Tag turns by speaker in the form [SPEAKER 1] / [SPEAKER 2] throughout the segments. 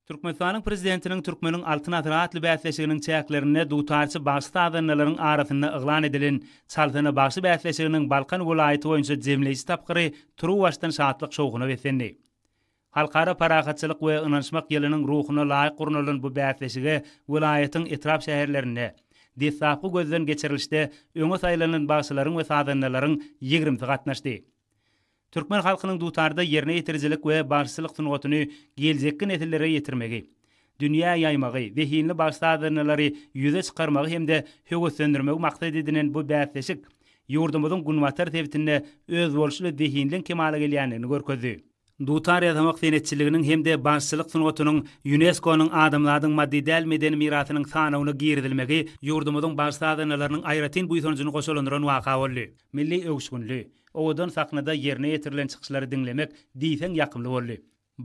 [SPEAKER 1] Türkmenistanyň Prezidentiniň Türkmeniň Altyn asyry atly bäsleşiginiň çäklerinde dutarçy bagşy-sazandalaryň arasynda yglan edilen Çalsana bagşy bäsleşiginiň Balkan welaýaty boýunça jemleýji tapgyry turuwbaşdan şatlyk-şowhuna beslendi. Halkara parahatçylyk we ynanyşmak ýylynyň ruhuna laýyk gurnalan bu bäsleşige welaýatyň etrap-şäherlerinde deslapky gözden geçirilişde öňe saýlanylan bagşylaryň we sazandalaryň ýigrimisi gatnaşdy. Türkmen halkynyň dutarda ýerine ýetirijilik we bagşyçylyk sungatyny geljekki nesillere ýetirmegi, dünýä ýaýmagy, zehinli bagşy-sazandalary ýüze çykarmagy hem-de höweslendirmegi maksat edinen bu bäsleşik ýurdumyzyň günbatar sebitinde özboluşly zehinliň kemala gelýändigini görkezdi. Dutar ýasamak senetçiliginiň hem-de bagşyçylyk sungatynyň Ýunesko-nyň Adamzadyň maddy däl medeni mirasynyň sanawyna girizilmegi ýurdumyzyň bagşy-sazandalarynyň aýratyn buýsanjyny goşalandyran waka boldy. Milli öwüşginli, Owadan sahnada ýerine ýetirilen çykyşlary diňlemek diýseň ýakymly boldy.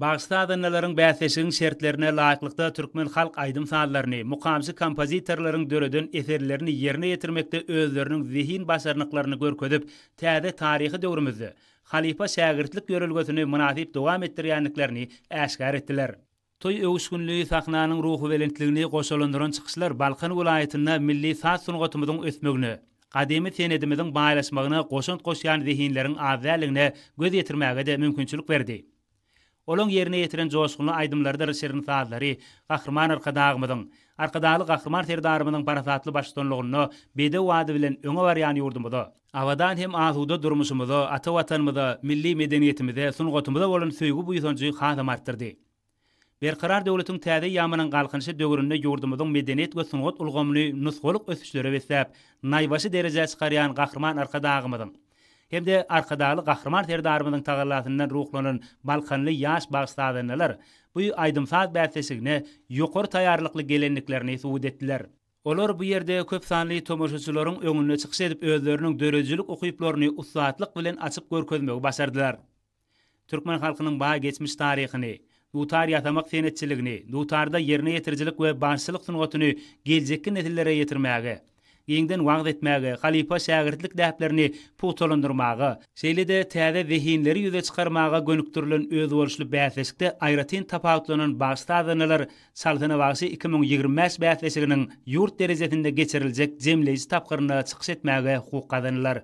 [SPEAKER 1] Bagşy-sazandalaryň bäsleşigiň şertlerine laýyklykda türkmen halk aýdym-sazlaryny, mukamçy kompozitorlaryň döreden eserlerini ýerine ýetirmekde özleriniň zehin-başarnyklaryny görkezip, täze taryhy döwrümizde halypa-şägirtlik ýörelgesini mynasyp dowam etdirýändiklerini äşgär etdiler. Toý öwüşginli sahnanyň ruhubelentligini goşalandyran çykyşlar Balkan welaýatynda milli saz sungatymyzyň ösmegine, gadymy senedimiziň baýlaşmagyna goşant goşýan zehinleriň az däldigine göz ýetirmäge-de mümkinçilik berdi. Olaň ýerine ýetiren joşgunly aýdymlarydyr şirin sazlary Gahryman Arkadagymyzyň, Arkadagly Gahryman Serdarymyzyň parasatly baştutanlygynda bedew ady bilen öňe barýan ýurdumyza, Abadan hem asuda durmuşymyza, ata Watanymyza, milli medeniýetimize, sungatymyza bolan söýgi-buýsanjy hasam artdyrdy. Berkarar döwletiň täze ýamanyň Galkynyşy döwründe ýurdumyzyň medeniýet we sungat ulgamyny nusgalyk ösüşlere besläp, naýbaşy derejä çykarýan Gahryman Arkadagymyzyň hem-de Arkadagly Gahryman Serdarymyzyň tagallasyndan ruhlanan balkanly ýaş bagy-sazandalar bu aýdym-saz bäsleşigine ýokary taýýarlykly gelendiklerini subut etdiler. Olar bu ýerde köp sanly tomaşaçylaryň öňünde çykyş edip özleriniň döredijilik ukyplaryny ussatlyk bilen açyp görkezmegi başardylar. Türkmen halkynyň baý geçmiş taryhyny, dutar ýasamak senetçiligini, dutarda ýerine ýetirijilik we bagşylyk sungatyny geljekki nesillere ýetirmäge, giňden wagyz etmäge, halypa-şägirtlik däplerini pugtalandyrmaga, şeýle-de täze zehinleri ýüze çykarmaga gönükdirilen özboluşly bäsleşikde aýratyn tapawutlanan bagşy-sazandalar Salsana bagşy iki müň ýigrimi bäş bäsleşiginiň ýurt derejesinde geçiriljek jemleýji tapgyrynda çykyş etmäge hukuk gazanylar.